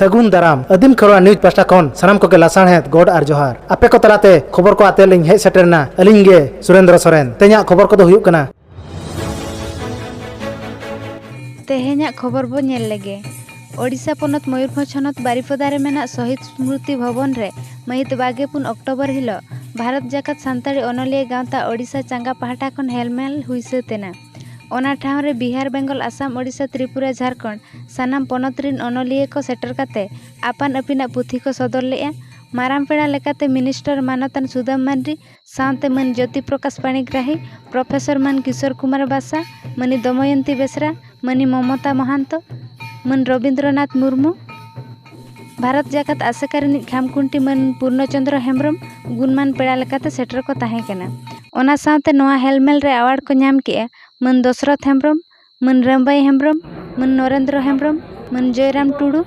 ᱥᱟᱹᱜᱩᱱ ᱫᱟᱨᱟᱢ ᱟᱹᱫᱤᱢ ᱠᱷᱚᱨᱣᱟ ᱱᱤᱭᱩᱡᱽ ᱯᱟᱥᱴᱟ ᱠᱷᱚᱱ ᱥᱟᱱᱟᱢ ᱠᱚᱜᱮ ᱞᱟᱥᱟᱬᱦᱮᱫ ᱜᱚᱰ ᱟᱨ ᱡᱚᱦᱟᱨ ᱟᱯᱮ ᱠᱚ ᱛᱟᱞᱟᱛᱮ ᱠᱷᱚᱵᱚᱨ ᱠᱚ ᱟᱛᱮ ᱞᱤᱧ ᱦᱮᱡ ᱥᱮᱴᱮᱨᱱᱟ ᱟᱹᱞᱤᱧ ᱜᱮ ᱥᱩᱨᱮᱱᱫᱨᱚ ᱥᱚᱨᱮᱱ ᱛᱮᱦᱮᱧᱟᱜ ᱠᱷᱚᱵᱚᱨ ᱠᱚᱫᱚ ᱦᱩᱭᱩᱜ ᱠᱟᱱᱟ ᱛᱮᱦᱮᱧᱟᱜ ᱠᱷᱚᱵᱚᱨ ᱵᱚ ᱧᱮᱞ ᱞᱮᱜᱮ ᱳᱰᱤᱥᱟ ᱯᱚᱱᱚᱛ ᱢᱚᱭᱩᱨᱵᱷᱚᱸᱡᱽ ᱦᱚᱱᱚᱛ ᱵᱟᱨᱤᱯᱚᱫᱟ ᱨᱮ ᱢᱮᱱᱟᱜ ᱥᱚᱦᱤᱫ ᱥᱢᱨᱩᱛᱤ ᱵᱷᱚᱵᱚᱱ ᱨᱮ ᱢᱟᱹᱦᱤᱛ ᱵᱟᱜᱮ ᱯᱩᱱ ᱚᱠᱴᱳᱵᱚᱨ ᱦᱤᱞᱳᱜ ᱵᱷᱟᱨᱚᱛ ᱡᱟᱠᱟᱛ ᱥᱟᱱᱛᱟᱲᱤ ᱚᱱᱚᱞᱤᱭᱟᱹ ᱜᱟᱶᱛᱟ ᱳᱰᱤᱥᱟ ᱪᱟᱸᱜᱟ ᱯᱟᱦᱴᱟ ᱠᱷᱚᱱ ᱦᱮᱞᱢᱮᱞ ᱦᱩᱭ ᱥᱟᱹᱛ ᱮᱱᱟ ᱚᱱᱟ ᱴᱷᱟᱶ ᱨᱮ ᱵᱤᱦᱟᱨ ᱵᱮᱝᱜᱚᱞ ᱟᱥᱟᱢ ᱳᱰᱤᱥᱟ ᱛᱨᱤᱯᱩᱨᱟ ᱡᱷᱟᱨᱠᱷᱚᱸᱰ ᱥᱟᱱᱟᱢ ᱯᱚᱱᱚᱛ ᱨᱤᱱ ᱚᱱᱚᱞᱤᱭᱟᱹ ᱠᱚ ᱥᱮᱴᱮᱨ ᱠᱟᱛᱮ ᱟᱯᱟᱱ ᱟᱹᱯᱤᱱᱟᱜ ᱯᱩᱛᱷᱤ ᱠᱚ ᱥᱚᱫᱚᱨ ᱞᱮᱜᱼᱟ ᱢᱟᱨᱟᱝ ᱯᱮᱲᱟ ᱞᱮᱠᱟᱛᱮ ᱢᱤᱱᱤᱥᱴᱚᱨ ᱢᱟᱱᱚᱛᱟᱱ ᱥᱩᱫᱟᱹᱢ ᱢᱟᱱᱰᱤ ᱥᱟᱶᱛᱮ ᱢᱟᱹᱱ ᱡᱳᱛᱤ ᱯᱨᱚᱠᱟᱥ ᱯᱟᱱᱤᱜᱨᱟᱦᱤ ᱯᱨᱚᱯᱷᱮᱥᱚᱨ ᱢᱟᱹᱱ ᱠᱤᱥᱳᱨ ᱠᱩᱢᱟᱨ ᱵᱟᱥᱟ ᱢᱟᱹᱱᱤᱡ ᱫᱚᱢᱚᱭᱚᱱᱛᱤ ᱵᱮᱥᱨᱟ ᱢᱟᱹᱱᱤᱡ ᱢᱚᱢᱚᱛᱟ ᱢᱚᱦᱟᱱᱛᱚ ᱢᱟᱹᱱ ᱨᱚᱵᱤᱱᱫᱨᱚᱱᱟᱛᱷ ᱢᱩᱨᱢᱩ ᱵᱷᱟᱨᱚᱛ ᱡᱟᱠᱟᱛ ᱟᱥᱮᱠᱟ ᱨᱤᱱᱤᱡ ᱠᱷᱟᱢ ᱠᱷᱩᱱᱴᱤ ᱢᱟᱹᱱ ᱯᱩᱨᱱᱚ ᱪᱚᱱᱫᱨᱚ ᱦᱮᱢᱵᱨᱚᱢ ᱜᱩᱱᱢᱟᱱ ᱯᱮᱲᱟ ᱞᱮᱠᱟᱛᱮ ᱥᱮᱴᱮᱨ ᱠᱚ ᱛᱟᱦᱮᱸ ᱠᱟᱱᱟ ᱚᱱᱟ ᱥᱟᱶᱛᱮ ᱱᱚᱣᱟ ᱦᱮᱞᱢᱮᱞ ᱨᱮ ᱮᱣᱟᱨᱰ ᱠᱚ ᱧᱟᱢ ᱠᱮᱜᱼᱟ ᱢᱟᱹᱱ ᱫᱚᱥᱚᱨᱚᱛᱷ ᱦᱮᱢᱵᱨᱚᱢ ᱢᱟᱹᱱ ᱨᱟᱢᱵᱟᱭ ᱦᱮᱢᱵᱨᱚᱢ ᱢᱟᱹᱱ ᱱᱚᱨᱮᱱᱫᱨᱚ ᱦᱮᱢᱵᱨᱚᱢ ᱢᱟᱹᱱ ᱡᱚᱭᱨᱟᱢ ᱴᱩᱰᱩ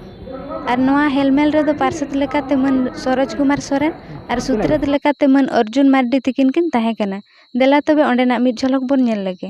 ᱟᱨ ᱱᱚᱣᱟ ᱦᱮᱞᱢᱮᱞ ᱨᱮᱫᱚ ᱯᱟᱨᱥᱮᱛ ᱞᱮᱠᱟᱛᱮ ᱢᱟᱹᱱ ᱥᱚᱨᱳᱡᱽ ᱠᱩᱢᱟᱨ ᱥᱚᱨᱮᱱ ᱟᱨ ᱥᱩᱛᱨᱮᱛ ᱞᱮᱠᱟᱛᱮ ᱢᱟᱹᱱ ᱚᱨᱡᱩᱱ ᱢᱟᱨᱰᱤ ᱛᱟᱹᱠᱤᱱ ᱠᱤᱱ ᱛᱟᱦᱮᱸ ᱠᱟᱱᱟ ᱫᱮᱞᱟ ᱛᱚᱵᱮ ᱚᱸᱰᱮᱱᱟᱜ ᱢᱤᱫ ᱡᱷᱚᱞᱚᱠ ᱵᱚᱱ ᱧᱮᱞ ᱞᱮᱜᱮ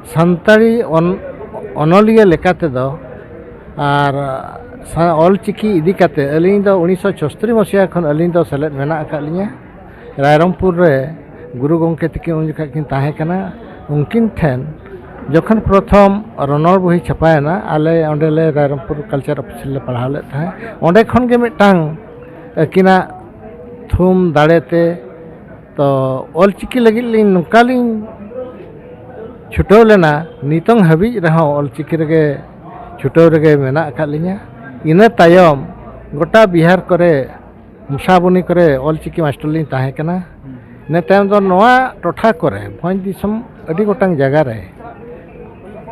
ᱥᱟᱱᱛᱟᱲᱤ ᱚᱱᱚᱞᱤᱭᱟᱹ ᱞᱮᱠᱟ ᱛᱮᱫᱚ ᱟᱨ ᱚᱞ ᱪᱤᱠᱤ ᱤᱫᱤ ᱠᱟᱛᱮ ᱟᱹᱞᱤᱧ ᱫᱚ ᱩᱱᱤᱥᱥᱚ ᱪᱷᱚᱥᱴᱨᱤ ᱢᱚᱥᱤᱦᱟ ᱠᱷᱚᱱ ᱟᱹᱞᱤᱧ ᱫᱚ ᱥᱮᱞᱮᱫ ᱢᱮᱱᱟᱜ ᱟᱠᱟᱫ ᱞᱤᱧᱟᱹ ᱨᱟᱭᱨᱚᱝᱯᱩᱨ ᱨᱮ ᱜᱩᱨᱩ ᱜᱚᱢᱠᱮ ᱛᱤᱠᱤᱱ ᱩᱱ ᱡᱚᱠᱷᱚᱡ ᱠᱤᱱ ᱛᱟᱦᱮᱸ ᱠᱟᱱᱟ ᱩᱱᱠᱤᱱ ᱴᱷᱮᱱ ᱡᱚᱠᱷᱚᱱ ᱯᱨᱚᱛᱷᱚᱢ ᱨᱚᱱᱚᱲ ᱵᱳᱭ ᱪᱷᱟᱯᱟᱭᱮᱱᱟ ᱟᱞᱮ ᱚᱸᱰᱮ ᱞᱮ ᱨᱟᱭᱨᱚᱝᱯᱩᱨ ᱠᱟᱞᱪᱟᱨ ᱚᱯᱷᱤᱥ ᱨᱮᱞᱮ ᱯᱟᱲᱦᱟᱣ ᱞᱮᱫ ᱛᱟᱦᱮᱸᱫ ᱚᱸᱰᱮ ᱠᱷᱚᱱ ᱜᱮ ᱢᱤᱫᱴᱟᱝ ᱟᱹᱠᱤᱱᱟᱜ ᱛᱷᱩᱢ ᱫᱟᱲᱮ ᱛᱮ ᱛᱚ ᱚᱞ ᱪᱤᱠᱤ ᱞᱟᱹᱜᱤᱫ ᱞᱤᱧ ᱱᱚᱝᱠᱟ ᱞᱤᱧ ᱪᱷᱩᱴᱟᱹᱣ ᱞᱮᱱᱟ ᱱᱤᱛᱚᱝ ᱦᱟᱹᱵᱤᱡ ᱨᱮᱦᱚᱸ ᱚᱞ ᱪᱤᱠᱤ ᱨᱮᱜᱮ ᱪᱷᱩᱴᱟᱹᱣ ᱨᱮᱜᱮ ᱢᱮᱱᱟᱜ ᱟᱠᱟᱫ ᱞᱤᱧᱟᱹ ᱤᱱᱟᱹ ᱛᱟᱭᱚᱢ ᱜᱚᱴᱟ ᱵᱤᱦᱟᱨ ᱠᱚᱨᱮ ᱢᱩᱥᱟᱵᱚᱱᱤ ᱠᱚᱨᱮ ᱚᱞ ᱪᱤᱠᱤ ᱢᱟᱥᱴᱟᱨ ᱞᱤᱧ ᱛᱟᱦᱮᱸ ᱠᱟᱱᱟ ᱤᱱᱟᱹ ᱛᱟᱭᱚᱢ ᱫᱚ ᱱᱚᱣᱟ ᱴᱚᱴᱷᱟ ᱠᱚᱨᱮ ᱵᱷᱚᱸᱡᱽ ᱫᱤᱥᱚᱢ ᱟᱹᱰᱤ ᱜᱚᱴᱟᱝ ᱡᱟᱭᱜᱟ ᱨᱮ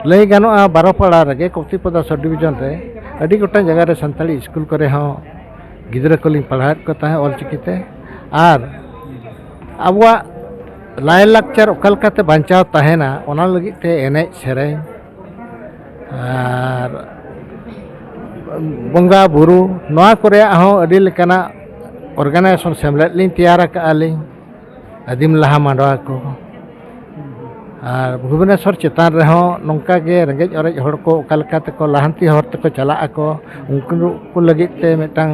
ᱞᱟᱹᱭ ᱜᱟᱱᱚᱜᱼᱟ ᱵᱟᱨᱚᱯᱟᱲᱟ ᱨᱮᱜᱮ ᱠᱚᱯᱛᱤᱯᱚᱫᱟ ᱥᱚᱵᱽ ᱰᱤᱵᱷᱤᱡᱚᱱ ᱨᱮ ᱟᱹᱰᱤ ᱜᱚᱴᱟᱝ ᱡᱟᱭᱜᱟ ᱨᱮ ᱥᱟᱱᱛᱟᱲᱤ ᱥᱠᱩᱞ ᱠᱚᱨᱮ ᱦᱚᱸ ᱜᱤᱫᱽᱨᱟᱹ ᱠᱚᱞᱤᱧ ᱯᱟᱲᱦᱟᱣᱮᱫ ᱠᱚ ᱛᱟᱦᱮᱸᱫ ᱚᱞ ᱪᱤᱠᱤ ᱛᱮ ᱟᱨ ᱟᱵᱚᱣᱟᱜ ᱞᱟᱭᱼᱞᱟᱠᱪᱟᱨ ᱚᱠᱟ ᱞᱮᱠᱟᱛᱮ ᱵᱟᱧᱪᱟᱣ ᱛᱟᱦᱮᱱᱟ ᱚᱱᱟ ᱞᱟᱹᱜᱤᱫ ᱛᱮ ᱮᱱᱮᱡ ᱥᱮᱨᱮᱧ ᱟᱨ ᱵᱚᱸᱜᱟ ᱵᱳᱨᱳ ᱱᱚᱣᱟ ᱠᱚᱨᱮᱭᱟᱜ ᱦᱚᱸ ᱟᱹᱰᱤ ᱞᱮᱠᱟᱱᱟᱜ ᱚᱨᱜᱟᱱᱟᱭᱡᱮᱥᱚᱱ ᱥᱮᱢᱞᱮᱫ ᱞᱤᱧ ᱛᱮᱭᱟᱨ ᱟᱠᱟᱫᱼᱟ ᱞᱤᱧ ᱟᱹᱫᱤᱢ ᱞᱟᱦᱟ ᱢᱟᱰᱣᱟ ᱠᱚ ᱟᱨ ᱵᱷᱩᱵᱽᱱᱮᱥᱚᱨ ᱪᱮᱛᱟᱱ ᱨᱮᱦᱚᱸ ᱱᱚᱝᱠᱟ ᱜᱮ ᱨᱮᱸᱜᱮᱡ ᱚᱨᱮᱡ ᱦᱚᱲ ᱠᱚ ᱚᱠᱟ ᱞᱮᱠᱟ ᱛᱮᱠᱚ ᱞᱟᱦᱟᱱᱛᱤ ᱦᱚᱨ ᱛᱮᱠᱚ ᱪᱟᱞᱟᱜ ᱟᱠᱚ ᱩᱱᱠᱩ ᱠᱚ ᱞᱟᱹᱜᱤᱫ ᱛᱮ ᱢᱤᱫᱴᱟᱝ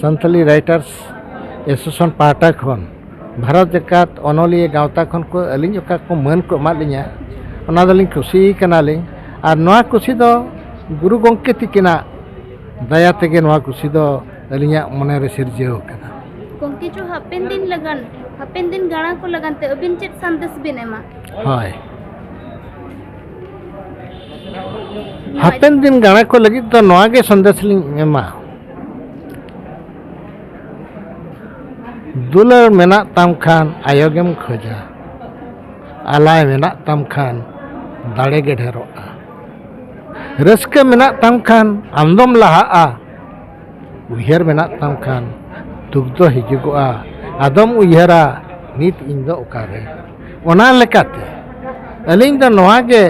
ᱥᱟᱱᱛᱟᱞᱤ ᱨᱟᱭᱴᱟᱨᱥ ᱮᱥᱳᱥᱤᱭᱮᱥᱚᱱ ᱯᱟᱦᱴᱟ ᱠᱷᱚᱱ ᱵᱷᱟᱨᱚᱛ ᱡᱟᱠᱟᱛ ᱚᱱᱚᱞᱤᱭᱟᱹ ᱜᱟᱶᱛᱟ ᱠᱷᱚᱱ ᱠᱚ ᱟᱹᱞᱤᱧ ᱚᱠᱟ ᱠᱚ ᱢᱟᱹᱱ ᱠᱚ ᱮᱢᱟᱫ ᱞᱤᱧᱟ ᱚᱱᱟ ᱫᱚᱞᱤᱧ ᱠᱩᱥᱤ ᱠᱟᱱᱟᱞᱤᱧ ᱟᱨ ᱱᱚᱣᱟ ᱠᱩᱥᱤ ᱫᱚ ᱜᱩᱨᱩ ᱜᱚᱢᱠᱮ ᱛᱤᱠᱤᱱᱟᱜ ᱫᱟᱭᱟ ᱛᱮᱜᱮ ᱱᱚᱣᱟ ᱠᱩᱥᱤ ᱫᱚ ᱟᱹᱞᱤᱧᱟᱜ ᱢᱚᱱᱮᱨᱮ ᱥᱤᱨᱡᱟᱹᱣ ᱟᱠᱟᱱᱟ ᱜᱚᱢᱠᱮ ᱪᱚ ᱦᱟᱯᱮᱱ ᱫᱤᱱ ᱞᱟᱜᱟᱱ ᱦᱟᱯᱮᱱ ᱫᱤᱱ ᱜᱟᱬᱟ ᱠᱚ ᱞᱟᱜᱟᱱ ᱛᱮ ᱟᱹᱵᱤᱱ ᱪᱮᱫ ᱥᱟᱸᱫᱮᱥ ᱵᱤᱱ ᱮᱢᱟ ᱦᱳᱭ ᱦᱟᱯᱮᱱ ᱫᱤᱱ ᱜᱟᱬᱟ ᱠᱚ ᱞᱟᱹᱜᱤᱫ ᱫᱚ ᱱᱚᱣᱟ ᱜᱮ ᱥᱟᱸᱫᱮᱥ ᱞᱤᱧ ᱮᱢᱟ ᱫᱩᱞᱟᱹᱲ ᱢᱮᱱᱟᱜ ᱛᱟᱢ ᱠᱷᱟᱱ ᱟᱭᱳ ᱜᱮᱢ ᱠᱷᱚᱡᱟ ᱟᱞᱟᱭ ᱢᱮᱱᱟᱜ ᱛᱟᱢ ᱠᱷᱟᱱ ᱫᱟᱲᱮ ᱜᱮ ᱰᱷᱮᱨᱚᱜᱼᱟ ᱨᱟᱹᱥᱠᱟᱹ ᱢᱮᱱᱟᱜ ᱛᱟᱢ ᱠᱷᱟᱱ ᱟᱢ ᱫᱚᱢ ᱞᱟᱦᱟᱜᱼᱟ ᱩᱭᱦᱟᱹᱨ ᱢᱮᱱᱟᱜ ᱛᱟᱢ ᱠᱷᱟᱱ ᱫᱩᱠ ᱫᱚ ᱦᱤᱡᱩᱜᱚᱜᱼᱟ ᱟᱫᱚᱢ ᱩᱭᱦᱟᱹᱨᱟ ᱱᱤᱛ ᱤᱧ ᱫᱚ ᱚᱠᱟᱨᱮ ᱚᱱᱟ ᱞᱮᱠᱟᱛᱮ ᱟᱹᱞᱤᱧ ᱫᱚ ᱱᱚᱣᱟ ᱜᱮ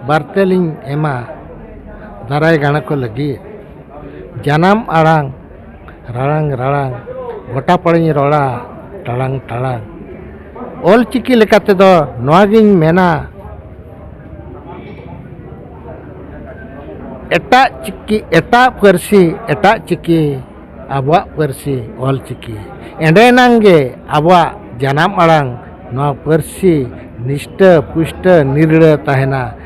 ᱵᱟᱨᱛᱮ ᱞᱤᱧ ᱮᱢᱟ ᱫᱟᱨᱟᱭ ᱜᱟᱬᱟ ᱠᱚ ᱞᱟᱹᱜᱤᱫ ᱡᱟᱱᱟᱢ ᱟᱲᱟᱝ ᱨᱟᱲᱟᱝ ᱨᱟᱲᱟᱝ ᱜᱚᱴᱟ ᱯᱟᱲᱟᱧ ᱨᱚᱲᱟ ᱴᱟᱲᱟᱝ ᱴᱟᱲᱟᱝ ᱚᱞ ᱪᱤᱠᱤ ᱞᱮᱠᱟ ᱛᱮᱫᱚ ᱱᱚᱣᱟ ᱜᱤᱧ ᱢᱮᱱᱟ ᱮᱴᱟᱜ ᱪᱤᱠᱤ ᱮᱴᱟᱜ ᱯᱟᱹᱨᱥᱤ ᱮᱴᱟᱜ ᱪᱤᱠᱤ ᱟᱵᱚᱣᱟᱜ ᱯᱟᱹᱨᱥᱤ ᱚᱞ ᱪᱤᱠᱤ ᱮᱸᱰᱮ ᱮᱱᱟᱝ ᱜᱮ ᱟᱵᱚᱣᱟᱜ ᱡᱟᱱᱟᱢ ᱟᱲᱟᱝ ᱱᱚᱣᱟ ᱯᱟᱹᱨᱥᱤ ᱱᱤᱥᱴᱟᱹ ᱯᱩᱥᱴᱟᱹ ᱱᱤᱨᱲᱟᱹ ᱛᱟᱦᱮᱱᱟ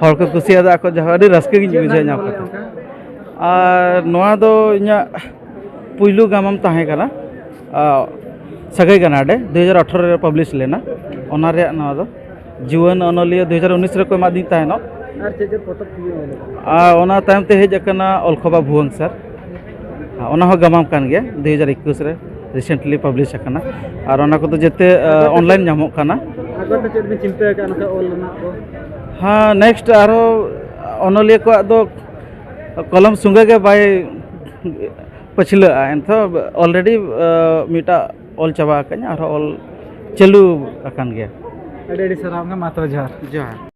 ᱦᱚᱲ ᱠᱚ ᱠᱩᱥᱤᱭᱟᱫᱟ ᱟᱠᱚ ᱡᱟᱦᱟᱸ ᱟᱹᱰᱤ ᱨᱟᱹᱥᱠᱟᱹ ᱜᱤᱧ ᱵᱩᱡᱷᱟᱹᱣ ᱧᱟᱢ ᱠᱟᱛᱮ ᱟᱨ ᱱᱚᱣᱟ ᱫᱚ ᱤᱧᱟᱹᱜ ᱯᱩᱭᱞᱩ ᱜᱟᱢᱟᱢ ᱛᱟᱦᱮᱸ ᱠᱟᱱᱟ ᱥᱟᱹᱜᱟᱹᱭ ᱜᱟᱱᱟᱰᱮ ᱫᱩ ᱦᱟᱡᱟᱨ ᱟᱴᱷᱨᱚ ᱨᱮ ᱯᱟᱵᱽᱞᱤᱥ ᱞᱮᱱᱟ ᱚᱱᱟ ᱨᱮᱭᱟᱜ ᱱᱚᱣᱟ ᱫᱚ ᱡᱩᱣᱟᱹᱱ ᱚᱱᱚᱞᱤᱭᱟᱹ ᱫᱩ ᱦᱟᱡᱟᱨ ᱩᱱᱤᱥ ᱨᱮᱠᱚ ᱮᱢᱟᱫᱤᱧ ᱛᱟᱦᱮᱱᱚᱜ ᱟᱨ ᱚᱱᱟ ᱛᱟᱭᱚᱢ ᱛᱮ ᱦᱮᱡ ᱟᱠᱟᱱᱟ ᱚᱞᱠᱷᱚᱵᱟ ᱵᱷᱩᱣᱟᱹᱝ ᱥᱟᱨ ᱚᱱᱟ ᱦᱚᱸ ᱜᱟᱢᱟᱢ ᱠᱟᱱ ᱜᱮᱭᱟ ᱫᱩ ᱦᱟᱡᱟᱨ ᱮᱠᱩᱥ ᱨᱮ ᱨᱤᱥᱮᱱᱴᱞᱤ ᱯᱟᱵᱽᱞᱤᱥ ᱟᱠᱟᱱᱟ ᱟᱨ ᱚᱱᱟ ᱠᱚᱫᱚ ᱡᱮᱛᱮ ᱚᱱᱞᱟᱭᱤᱱ ᱧᱟᱢᱚᱜ ᱠᱟᱱᱟ ᱟᱜᱚᱛ ᱪᱮᱫ ᱵᱤᱱ ᱪᱤᱱᱛᱟᱹ ᱟᱠᱟᱫ ᱱᱚᱝᱠᱟ ᱚᱞ ᱨᱮᱱᱟᱜ ᱠᱚ ᱦᱮᱸ ᱱᱮᱠᱥᱴ ᱟᱨᱦᱚᱸ ᱚᱱᱚᱞᱤᱭᱟᱹ ᱠᱚᱣᱟᱜ ᱫᱚ ᱠᱚᱞᱚᱢ ᱥᱚᱸᱜᱮ ᱜᱮ ᱵᱟᱭ ᱯᱟᱹᱪᱷᱞᱟᱹᱜᱼᱟ ᱮᱱᱛᱷᱚ ᱚᱞᱨᱮᱰᱤ ᱢᱤᱫᱴᱟᱜ ᱚᱞ ᱪᱟᱵᱟ ᱟᱠᱟᱫᱟᱹᱧ ᱟᱨᱦᱚᱸ ᱚᱞ ᱪᱟᱹᱞᱩ ᱟᱠᱟᱱ ᱜᱮᱭᱟ ᱟᱹᱰᱤ ᱟᱹᱰᱤ ᱥᱟᱨᱦᱟᱣ ᱜᱮ ᱢᱟ ᱛᱚᱵᱮ ᱡᱚᱦᱟᱨ ᱡᱚᱦᱟᱨ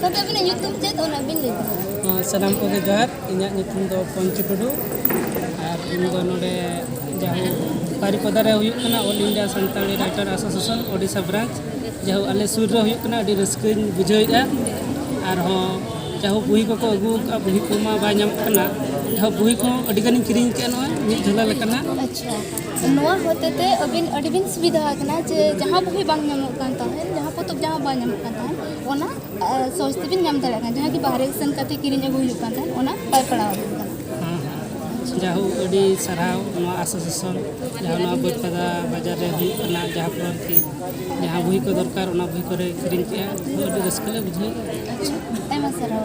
ᱛᱚᱵᱮ ᱟᱹᱵᱤᱱᱟᱜ ᱧᱩᱛᱩᱢ ᱪᱮᱫ ᱚᱱᱟ ᱵᱤᱱ ᱞᱟᱹᱭ ᱫᱟᱲᱮᱭᱟᱜᱼᱟ ᱥᱟᱱᱟᱢ ᱠᱚᱜᱮ ᱡᱚᱦᱟᱨ ᱤᱧᱟᱹᱜ ᱧᱩᱛᱩᱢ ᱫᱚ ᱯᱚᱧᱪᱩ ᱴᱩᱰᱩ ᱟᱨ ᱤᱧ ᱫᱚ ᱱᱚᱰᱮ ᱡᱟᱦᱳ ᱵᱟᱨᱤᱯᱟᱫᱟ ᱨᱮ ᱦᱩᱭᱩᱜ ᱠᱟᱱᱟ all India Santali writer association Odisha branch ᱡᱟᱦᱳ ᱟᱞᱮ ᱥᱩᱨ ᱨᱮ ᱦᱩᱭᱩᱜ ᱠᱟᱱᱟ ᱟᱹᱰᱤ ᱨᱟᱹᱥᱠᱟᱹᱧ ᱵᱩᱡᱷᱟᱹᱣᱮᱫᱼᱟ ᱟᱨᱦᱚᱸ ᱡᱟᱦᱳ ᱵᱩᱦᱤ ᱠᱚᱠᱚ ᱟᱹᱜᱩ ᱟᱠᱟᱫᱼᱟ ᱵᱩᱦᱤ ᱠᱚᱢᱟ ᱵᱟᱭ ᱧᱟᱢᱚᱜ ᱠᱟᱱᱟ ᱡᱟᱦᱳ ᱵᱩᱦᱤ ᱠᱚ ᱟᱹᱰᱤ ᱜᱟᱱᱤᱧ ᱠᱤᱨᱤᱧ ᱠᱮᱫᱼᱟ ᱱᱚᱣᱟ ᱢᱤᱫ ᱡᱷᱚᱞᱟ ᱞᱮᱠᱟᱱᱟᱜ ᱟᱪᱪᱷᱟ ᱱᱚᱣᱟ ᱦᱚᱛᱮᱛᱮ ᱟᱹᱵᱤᱱ ᱟᱹᱰᱤ ᱵᱤᱱ ᱥᱩᱵᱤᱫᱷᱟ ᱟᱠᱟᱱᱟ ᱡᱮ ᱡᱟᱦᱟᱸ ᱵᱩᱦᱤ ᱵᱟᱝ ᱧᱟᱢᱚᱜ ᱠᱟᱱ ᱛᱟᱦᱮᱸᱫ ᱡᱟᱦᱟᱸ ᱯᱚᱛᱚᱵ ᱡᱟᱦᱟᱸ ᱵᱟᱝ ᱧᱟᱢᱚᱜ ᱠᱟᱱ ᱛᱟᱦᱮᱸᱫ ᱚᱱᱟ ᱥᱚᱨᱥ ᱛᱮᱵᱤᱱ ᱧᱟᱢ ᱫᱟᱲᱮᱭᱟᱜ ᱠᱟᱱᱟ ᱡᱟᱦᱟᱸ ᱠᱤ ᱵᱟᱦᱨᱮ ᱥᱮᱱ ᱠᱟᱛᱮ ᱠᱤᱨᱤᱧ ᱟᱹᱜᱩ ᱦᱩᱭᱩᱜ ᱠᱟᱱ ᱛᱟᱦᱮᱸᱫ ᱚᱱᱟ ᱵᱟᱭ ᱯᱟᱲᱟᱣ ᱟᱵᱚᱱ ᱠᱟᱱᱟ ᱡᱟᱦᱳ ᱟᱹᱰᱤ ᱥᱟᱨᱦᱟᱣ ᱱᱚᱣᱟ ᱟᱥᱳᱥᱤᱭᱮᱥᱚᱱ ᱡᱟᱦᱟᱸ ᱱᱚᱣᱟ ᱵᱟᱹᱨᱯᱟᱫᱟ ᱵᱟᱡᱟᱨ ᱨᱮ ᱦᱩᱭᱩᱜ ᱠᱟᱱᱟ ᱡᱟᱦᱟᱸ ᱯᱚᱨ ᱠᱤ ᱡᱟᱦᱟᱸ ᱵᱩᱦᱤ ᱠᱚ ᱫᱚᱨᱠᱟᱨ ᱚᱱᱟ ᱵᱩᱦᱤ ᱠᱚᱨᱮ ᱠᱤᱨᱤᱧ ᱠᱮᱜᱼᱟ ᱟᱹᱰᱤ ᱨᱟᱹᱥᱠᱟᱹ ᱞᱮ ᱵᱩᱡᱷᱟᱹᱣᱮᱫᱼᱟ ᱟᱭᱢᱟ ᱥᱟᱨᱦᱟᱣ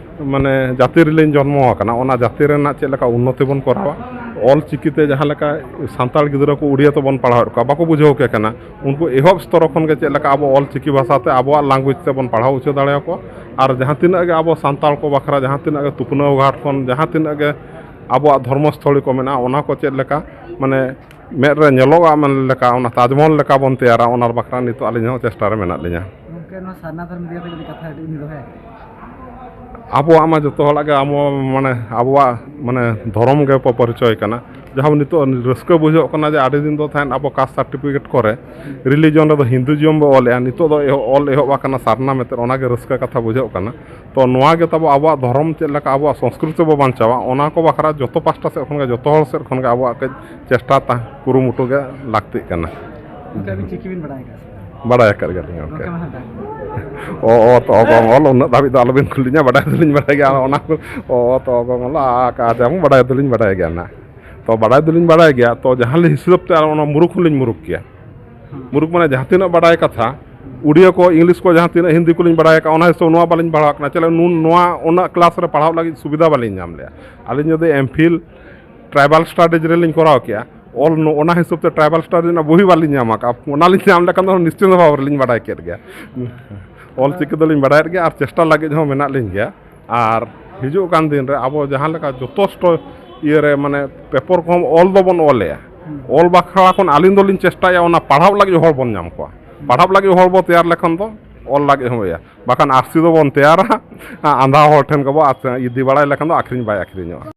ᱢᱟᱱᱮ ᱡᱟᱹᱛᱤ ᱨᱮᱞᱤᱧ ᱡᱚᱱᱢᱚ ᱟᱠᱟᱱᱟ ᱚᱱᱟ ᱡᱟᱹᱛᱤ ᱨᱮᱱᱟᱜ ᱪᱮᱫ ᱞᱮᱠᱟ ᱩᱱᱱᱚᱛᱤ ᱵᱚᱱ ᱠᱚᱨᱟᱣᱟ ᱚᱞ ᱪᱤᱠᱤ ᱛᱮ ᱡᱟᱦᱟᱸ ᱞᱮᱠᱟ ᱥᱟᱱᱛᱟᱲ ᱜᱤᱫᱽᱨᱟᱹ ᱠᱚ ᱩᱰᱤᱭᱟ ᱛᱮᱵᱚᱱ ᱯᱟᱲᱦᱟᱣᱮᱫ ᱠᱚᱣᱟ ᱵᱟᱠᱚ ᱵᱩᱡᱷᱟᱹᱣ ᱠᱮ ᱠᱟᱱᱟ ᱩᱱᱠᱩ ᱮᱦᱚᱵ ᱥᱛᱚᱨᱚ ᱠᱷᱚᱱ ᱜᱮ ᱪᱮᱫ ᱞᱮᱠᱟ ᱟᱵᱚ ᱚᱞ ᱪᱤᱠᱤ ᱵᱷᱟᱥᱟ ᱛᱮ ᱟᱵᱚᱣᱟᱜ ᱞᱟᱝᱜᱩᱭᱮᱡᱽ ᱛᱮᱵᱚᱱ ᱯᱟᱲᱦᱟᱣ ᱦᱚᱪᱚ ᱫᱟᱲᱮ ᱟᱠᱚᱣᱟ ᱟᱨ ᱡᱟᱦᱟᱸ ᱛᱤᱱᱟᱹᱜ ᱜᱮ ᱟᱵᱚ ᱥᱟᱱᱛᱟᱲ ᱠᱚ ᱵᱟᱠᱷᱨᱟ ᱡᱟᱦᱟᱸ ᱛᱤᱱᱟᱹᱜ ᱜᱮ ᱛᱩᱠᱱᱟᱹᱣ ᱜᱷᱟᱴ ᱠᱷᱚᱱ ᱡᱟᱦᱟᱸ ᱛᱤᱱᱟᱹᱜ ᱜᱮ ᱟᱵᱚᱣᱟᱜ ᱫᱷᱚᱨᱢᱚ ᱥᱛᱷᱚᱞᱤ ᱠᱚ ᱢᱮᱱᱟᱜᱼᱟ ᱚᱱᱟ ᱠᱚ ᱪᱮᱫ ᱞᱮᱠᱟ ᱢᱟᱱᱮ ᱢᱮᱫ ᱨᱮ ᱧᱮᱞᱚᱜᱼᱟ ᱢᱮᱱ ᱞᱮᱠᱟ ᱚᱱᱟ ᱛᱟᱡᱽᱢᱚᱦᱚᱞ ᱞᱮᱠᱟ ᱵᱚᱱ ᱛᱮᱭᱟᱨᱟ ᱚᱱᱟ ᱵᱟᱠᱷᱨᱟ ᱱᱤᱛᱚᱜ ᱟᱹᱞᱤᱧ ᱦᱚᱸ ᱪᱮᱥᱴᱟ ᱨᱮ ᱢᱮᱱᱟᱜ ᱞᱤᱧᱟ ᱜᱚᱝᱠᱮ ᱱᱚᱣᱟ ᱥᱟᱨᱱᱟ ᱫᱷᱚᱨᱚᱢ ᱤᱫᱤ ᱠᱟᱛᱮ ᱡᱩᱫᱤ ᱠᱟᱛᱷᱟ ᱠᱟᱹᱴᱤᱡ ᱵᱤᱱ ᱫᱚᱦᱚᱭᱟ ᱟᱵᱚᱣᱟᱜ ᱢᱟ ᱡᱚᱛᱚ ᱦᱚᱲᱟᱜ ᱜᱮ ᱟᱵᱚ ᱢᱟᱱᱮ ᱟᱵᱚᱣᱟᱜ ᱢᱟᱱᱮ ᱫᱷᱚᱨᱚᱢ ᱜᱮ ᱯᱚᱨᱤᱪᱚᱭ ᱠᱟᱱᱟ ᱡᱟᱦᱟᱸ ᱱᱤᱛᱚᱜ ᱨᱟᱹᱥᱠᱟᱹ ᱵᱩᱡᱷᱟᱹᱜ ᱠᱟᱱᱟ ᱡᱮ ᱟᱹᱰᱤ ᱫᱤᱱ ᱫᱚ ᱛᱟᱦᱮᱸᱫ ᱟᱵᱚ ᱠᱟᱥᱴ ᱥᱟᱨᱴᱤᱯᱷᱤᱠᱮᱴ ᱠᱚᱨᱮ ᱨᱤᱞᱤᱡᱚᱱ ᱨᱮᱫᱚ ᱦᱤᱱᱫᱩᱭᱤᱡᱚᱢ ᱵᱚᱱ ᱚᱞᱮᱜᱼᱟ ᱱᱤᱛᱚᱜ ᱫᱚ ᱚᱞ ᱮᱦᱚᱵ ᱟᱠᱟᱱᱟ ᱥᱟᱨᱱᱟ ᱢᱮᱱᱛᱮ ᱚᱱᱟᱜᱮ ᱨᱟᱹᱥᱠᱟᱹ ᱠᱟᱛᱷᱟ ᱵᱩᱡᱷᱟᱹᱜ ᱠᱟᱱᱟ ᱛᱚ ᱱᱚᱣᱟ ᱜᱮ ᱛᱟᱵᱚ ᱟᱵᱚᱣᱟᱜ ᱫᱷᱚᱨᱚᱢ ᱪᱮᱫ ᱞᱮᱠᱟ ᱟᱵᱚᱣᱟᱜ ᱥᱚᱥᱠᱨᱤᱛᱤ ᱵᱚ ᱵᱟᱧᱪᱟᱣᱟ ᱚᱱᱟ ᱠᱚ ᱵᱟᱠᱷᱨᱟ ᱡᱚᱛᱚ ᱯᱟᱥᱴᱟ ᱥᱮᱫ ᱠᱷᱚᱱ ᱜᱮ ᱡᱚᱛᱚ ᱦᱚᱲ ᱥᱮᱫ ᱠᱷᱚᱱ ᱜᱮ ᱟᱵᱚᱣᱟᱜ ᱠᱟᱹᱡ ᱪᱮᱥᱴᱟ ᱛᱟᱦᱮᱸ ᱠᱩᱨᱩᱢᱩᱴᱩ ᱜᱮ ᱞᱟᱹᱠᱛᱤᱜ ᱠᱟᱱᱟ ᱜᱚᱢᱠᱮ ᱟᱹᱵᱤᱱ ᱪᱤᱠᱤ ᱵᱤᱱ ᱵᱟᱲᱟᱭ ᱟᱠᱟᱫᱼᱟ ᱥᱮ ᱵᱟᱲᱟᱭ ᱟᱠᱟᱫ ᱜᱮᱭᱟᱞᱤᱧ ᱜᱚᱢᱠᱮ ᱜᱚᱢᱠᱮ ᱢᱟᱦᱟᱱᱫᱟ ᱚ ᱚ ᱛᱚ ᱚᱜᱚᱝ ᱚᱞ ᱩᱱᱟᱹᱜ ᱫᱷᱟᱹᱵᱤᱡ ᱫᱚ ᱟᱞᱚᱵᱤᱱ ᱠᱩᱞᱤᱧᱟ ᱵᱟᱰᱟᱭ ᱫᱚᱞᱤᱧ ᱵᱟᱰᱟᱭ ᱜᱮᱭᱟ ᱚᱱᱟ ᱠᱚ ᱚ ᱛᱚ ᱚᱜᱚᱝ ᱚᱞ ᱟ ᱠᱟ ᱡᱟᱢ ᱵᱟᱰᱟᱭ ᱫᱚᱞᱤᱧ ᱵᱟᱰᱟᱭ ᱜᱮᱭᱟ ᱱᱟᱜ ᱛᱚ ᱵᱟᱰᱟᱭ ᱫᱚᱞᱤᱧ ᱵᱟᱰᱟᱭ ᱜᱮᱭᱟ ᱛᱚ ᱡᱟᱦᱟᱸ ᱞᱤᱧ ᱦᱤᱥᱟᱹᱵᱽ ᱛᱮ ᱟᱨ ᱚᱱᱟ ᱢᱩᱨᱩᱠᱷ ᱦᱚᱸᱞᱤᱧ ᱢᱩᱨᱩᱠᱷ ᱜᱮᱭᱟ ᱢᱩᱨᱩᱠ ᱢᱟᱱᱮ ᱡᱟᱦᱟᱸ ᱛᱤᱱᱟᱹᱜ ᱵᱟᱰᱟᱭ ᱠᱟᱛᱷᱟ ᱩᱰᱤᱭᱟᱹ ᱠᱚ ᱤᱝᱞᱤᱥ ᱠᱚ ᱡᱟᱦᱟᱸ ᱛᱤᱱᱟᱹᱜ ᱦᱤᱱᱫᱤ ᱠᱚᱞᱤᱧ ᱵᱟᱲᱟᱭ ᱟᱠᱟᱫ ᱚᱱᱟ ᱦᱤᱥᱟᱹᱵ ᱱᱚᱣᱟ ᱵᱟᱹᱞᱤᱧ ᱯᱟᱲᱦᱟᱣ ᱠᱟᱱᱟ ᱪᱮᱫᱟᱜ ᱱᱩᱱ ᱱᱚᱣᱟ ᱩᱱᱟᱹᱜ ᱠᱞᱟᱥ ᱨᱮ ᱯᱟᱲᱦᱟᱣ ᱞᱟᱹᱜᱤᱫ ᱥᱩᱵᱤᱫᱷᱟ ᱵᱟᱹᱞᱤᱧ ᱧᱟᱢ ᱞᱮᱜᱼᱟ ᱟᱹᱞᱤᱧ ᱡᱩᱫᱤ ᱮᱢ ᱯᱷᱤᱞ ᱴᱨᱟᱭᱵᱟᱞ ᱥᱴᱟᱰᱤᱡᱽ ᱨᱮᱞᱤᱧ ᱠᱚᱨᱟᱣ ᱠᱮᱜᱼᱟ ᱚᱞ ᱚᱱᱟ ᱦᱤᱥᱟᱹᱵ ᱛᱮ ᱴᱨᱟᱭᱵᱟᱞ ᱥᱴᱟᱰᱤᱡᱽ ᱨᱮᱱᱟᱜ ᱵᱳᱭ ᱵᱟᱹᱞᱤᱧ ᱧᱟᱢ ᱟᱠᱟᱫᱼᱟ ᱚᱱᱟᱞᱤᱧ ᱧᱟᱢ ᱞᱮᱠᱷᱟᱱ ᱫᱚ ᱱᱤᱥᱪᱤᱱᱛ ᱵᱷᱟᱵᱽ ᱨᱮᱞᱤᱧ ᱵᱟᱰᱟᱭ ᱠᱮᱫ ᱜᱮᱭᱟ ᱚᱞ ᱪᱤᱠᱤ ᱫᱚᱞᱤᱧ ᱵᱟᱰᱟᱭᱮᱫ ᱜᱮᱭᱟ ᱟᱨ ᱪᱮᱥᱴᱟ ᱞᱟᱹᱜᱤᱫ ᱦᱚᱸ ᱢᱮᱱᱟᱜ ᱞᱤᱧ ᱜᱮᱭᱟ ᱟᱨ ᱦᱤᱡᱩᱜ ᱠᱟᱱ ᱫᱤᱱ ᱨᱮ ᱟᱵᱚ ᱡᱟᱦᱟᱸ ᱞᱮᱠᱟ ᱡᱚᱛᱷᱮᱥᱴᱚ ᱤᱭᱟᱹ ᱨᱮ ᱢᱟᱱᱮ ᱯᱮᱯᱚᱨ ᱠᱚᱦᱚᱸ ᱚᱞ ᱫᱚᱵᱚᱱ ᱚᱞᱮᱜᱼᱟ ᱚᱞ ᱵᱟᱠᱷᱨᱟ ᱠᱷᱚᱱ ᱟᱹᱞᱤᱧ ᱫᱚᱞᱤᱧ ᱪᱮᱥᱴᱟᱭᱟ ᱚᱱᱟ ᱯᱟᱲᱦᱟᱣ ᱞᱟᱹᱜᱤᱫ ᱦᱚᱲ ᱵᱚᱱ ᱧᱟᱢ ᱠᱚᱣᱟ ᱯᱟᱲᱦᱟᱣ ᱞᱟᱹᱜᱤᱫ ᱦᱚᱲ ᱵᱚᱱ ᱛᱮᱭᱟᱨ ᱞᱮᱠᱷᱟᱱ ᱫᱚ ᱚᱞ ᱞᱟᱹᱜᱤᱫ ᱦᱚᱸ ᱤᱭᱟᱹ ᱵᱟᱠᱷᱟᱱ ᱟᱹᱨᱥᱤ ᱫᱚᱵᱚᱱ ᱛᱮᱭᱟᱨᱟ ᱟᱸᱫᱷᱟ ᱦᱚᱲ ᱴᱷᱮᱱ ᱜᱮᱵᱚᱱ ᱤᱫᱤ ᱵᱟᱲᱟᱭ ᱞᱮᱠᱷᱟᱱ ᱫᱚ ᱟᱹᱠᱷᱨᱤᱧ ᱵᱟᱭ ᱟᱹᱠᱷᱨᱤᱧᱚᱜᱼᱟ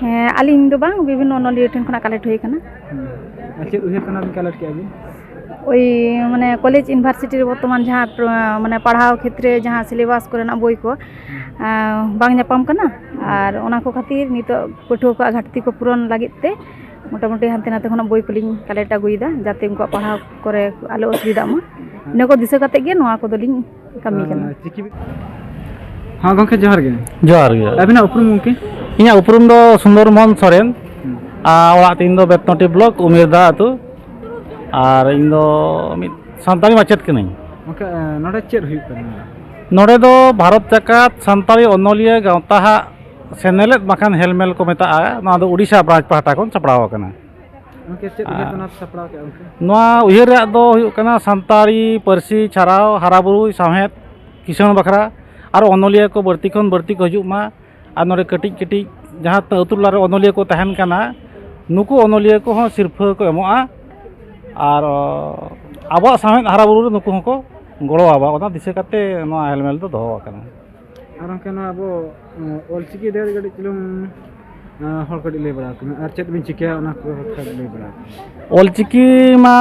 ᱦᱮᱸ ᱟᱹᱞᱤᱧ ᱫᱚ ᱵᱟᱝ ᱵᱤᱵᱷᱤᱱᱱᱚ ᱚᱱᱚᱞᱤᱭᱟᱹ ᱴᱷᱮᱱ ᱠᱷᱚᱱᱟᱜ ᱠᱟᱞᱮᱠᱴ ᱦᱩᱭ ᱠᱟᱱᱟ ᱟᱨ ᱪᱮᱫ ᱩᱭᱦᱟᱹᱨ ᱠᱷᱚᱱᱟᱜ ᱵᱤᱱ ᱠᱟᱞᱮᱠᱴ ᱠᱮᱜᱼᱟ ᱵᱤᱱ ᱳᱭ ᱢᱟᱱᱮ ᱠᱚᱞᱮᱡᱽ ᱤᱭᱩᱱᱤᱵᱷᱟᱨᱥᱤᱴᱤ ᱨᱮ ᱵᱚᱨᱛᱚᱢᱟᱱ ᱡᱟᱦᱟᱸ ᱯᱨᱚ- ᱢᱟᱱᱮ ᱯᱟᱲᱦᱟᱣ ᱠᱷᱮᱛᱨᱮ ᱡᱟᱦᱟᱸ ᱥᱤᱞᱮᱵᱟᱥ ᱠᱚᱨᱮᱱᱟᱜ ᱵᱳᱭ ᱠᱚ ᱟᱸ, ᱵᱟᱝ ᱧᱟᱯᱟᱢ ᱠᱟᱱᱟ ᱟᱨ ᱚᱱᱟ ᱠᱚ ᱠᱷᱟᱹᱛᱤᱨ ᱱᱤᱛᱚᱜ ᱯᱟᱹᱴᱷᱩᱣᱟᱹ ᱠᱚᱣᱟᱜ ᱜᱷᱟᱴᱛᱤ ᱠᱚ ᱯᱩᱨᱚᱱ ᱞᱟᱹᱜᱤᱫ ᱛᱮ ᱢᱚᱴᱟᱢᱩᱴᱤ ᱦᱟᱱᱛᱮ ᱱᱟᱛᱮ ᱠᱷᱚᱱᱟᱜ ᱵᱳᱭ ᱠᱚᱞᱤᱧ ᱠᱟᱞᱮᱠᱴ ᱟᱹᱜᱩᱭᱮᱫᱟ ᱡᱟᱛᱮ ᱩᱱᱠᱩᱣᱟᱜ ᱯᱟᱲᱦᱟᱣ ᱠᱚᱨᱮ ᱟᱞᱚ ᱚᱥᱩᱵᱤᱫᱷᱟᱜ ᱢᱟ ᱤᱱᱟᱹ ᱠᱚ ᱫᱤᱥᱟᱹ ᱠᱟᱛᱮᱫ ᱜᱮ ᱱᱚᱣᱟ ᱠᱚᱫᱚᱞᱤᱧ ᱠᱟᱹᱢᱤ ᱠᱟᱱᱟ ᱪᱤᱠᱤ ᱦᱮᱸ ᱜᱚᱢᱠᱮ ᱡᱚᱦᱟᱨ ᱜᱮ ᱡᱚᱦᱟᱨ ᱜᱮ ᱟᱹᱵᱤᱱᱟᱜ ᱩᱯᱨᱩᱢ ᱜᱚᱢᱠᱮ ᱤᱧᱟᱹᱜ ᱩᱯᱨᱩᱢ ᱫᱚ ᱥᱩᱱᱫᱚᱨ ᱢᱳᱦᱚᱱ ᱥᱚᱨᱮᱱ ᱟᱨ ᱚᱲᱟᱜ ᱛᱤᱧ ᱫᱚ ᱵᱮᱛᱱᱚᱴᱤ ᱵᱞᱚᱠ ᱩᱢᱮᱨᱫᱟ ᱟᱹᱛᱩ ᱟᱨ ᱤᱧ ᱫᱚ ᱢᱤᱫ ᱥᱟᱱᱛᱟᱲᱤ ᱢᱟᱪᱮᱫ ᱠᱟᱹᱱᱟᱹᱧ ᱜᱚᱢᱠᱮ ᱱᱚᱰᱮ ᱪᱮᱫ ᱦᱩᱭᱩᱜ ᱠᱟᱱᱟ ᱱᱚᱰᱮ ᱫᱚ ᱵᱷᱟᱨᱚᱛ ᱡᱟᱠᱟᱛ ᱥᱟᱱᱛᱟᱲᱤ ᱚᱱᱚᱞᱤᱭᱟᱹ ᱜᱟᱶᱛᱟ ᱦᱟᱜ ᱥᱮᱱᱮᱞᱮᱫ ᱵᱟᱠᱷᱟᱱ ᱦᱮᱞᱢᱮᱞ ᱠᱚ ᱢᱮᱛᱟᱜᱼᱟ ᱱᱚᱣᱟ ᱫᱚ ᱩᱰᱤᱥᱟ ᱵᱨᱟᱧᱪ ᱯᱟᱦᱴᱟ ᱠᱷᱚᱱ ᱥᱟᱯᱲᱟᱣ ᱟᱠᱟᱱᱟ ᱱᱚᱣᱟ ᱩᱭᱦᱟᱹᱨ ᱨᱮᱭᱟᱜ ᱫᱚ ᱦᱩᱭᱩᱜ ᱠᱟᱱᱟ ᱥᱟᱱᱛᱟᱲᱤ ᱯᱟᱹᱨᱥᱤ ᱪᱷᱟᱨᱟᱣ ᱦᱟᱨᱟᱵᱩᱨᱩ ᱥᱟᱶᱦᱮᱫ ᱠᱤᱥᱟᱹᱬ ᱵᱟᱠᱷᱨᱟ ᱟᱨ ᱚᱱᱚᱞᱤᱭᱟᱹ ᱠᱚ ᱵᱟᱹᱲᱛᱤ ᱠᱷᱚᱱ ᱵᱟᱹᱲᱛᱤ ᱠᱚ ᱦᱤᱡᱩᱜ ᱢᱟ ᱟᱨ ᱱᱚᱰᱮ ᱠᱟᱹᱴᱤᱡ ᱠᱟᱹᱴᱤᱡ ᱡᱟᱦᱟᱸ ᱛᱤᱱᱟᱹᱜ ᱟᱹᱛᱩ ᱴᱚᱞᱟ ᱨᱮ ᱚᱱᱚᱞᱤᱭᱟᱹ ᱠᱚ ᱛᱟᱦᱮᱱ ᱠᱟᱱᱟ ᱱᱩᱠᱩ ᱚᱱᱚᱞᱤᱭᱟᱹ ᱠᱚᱦᱚᱸ ᱥᱤᱨᱯᱷᱟᱹ ᱠᱚ ᱮᱢᱚᱜᱼᱟ ᱟᱨ ᱟᱵᱚᱣᱟᱜ ᱥᱟᱶᱦᱮᱫ ᱦᱟᱨᱟᱵᱩᱨᱩ ᱨᱮ ᱱᱩᱠᱩ ᱦᱚᱸᱠᱚ ᱜᱚᱲᱚ ᱟᱵᱚᱱᱟ ᱚᱱᱟ ᱫᱤᱥᱟᱹ ᱠᱟᱛᱮᱫ ᱱᱚᱣᱟ ᱦᱮᱞᱢᱮᱞ ᱫᱚ ᱫᱚᱦᱚ ᱟᱠᱟᱱᱟ ᱟᱨ ᱜᱚᱝᱠᱮ ᱱᱚᱣᱟ ᱟᱵᱚ ᱚᱞ ᱪᱤᱠᱤ ᱤᱫᱤ ᱠᱟᱛᱮ ᱠᱟᱹᱴᱤᱡ ᱪᱩᱞᱩᱝ ᱟᱸ ᱦᱚᱲ ᱠᱟᱹᱴᱤᱡ ᱞᱟᱹᱭ ᱵᱟᱲᱟ ᱟᱠᱚ ᱢᱮ ᱟᱨ ᱪᱮᱫ ᱵᱤᱱ ᱪᱤᱠᱟᱹᱭᱟ ᱚᱱᱟ ᱠᱚ ᱠᱟᱛᱷᱟ ᱞᱟᱹᱭ ᱵᱟᱲᱟ ᱟᱠᱚ ᱢᱮ᱾ ᱚᱞᱪᱤᱠᱤ ᱢᱟ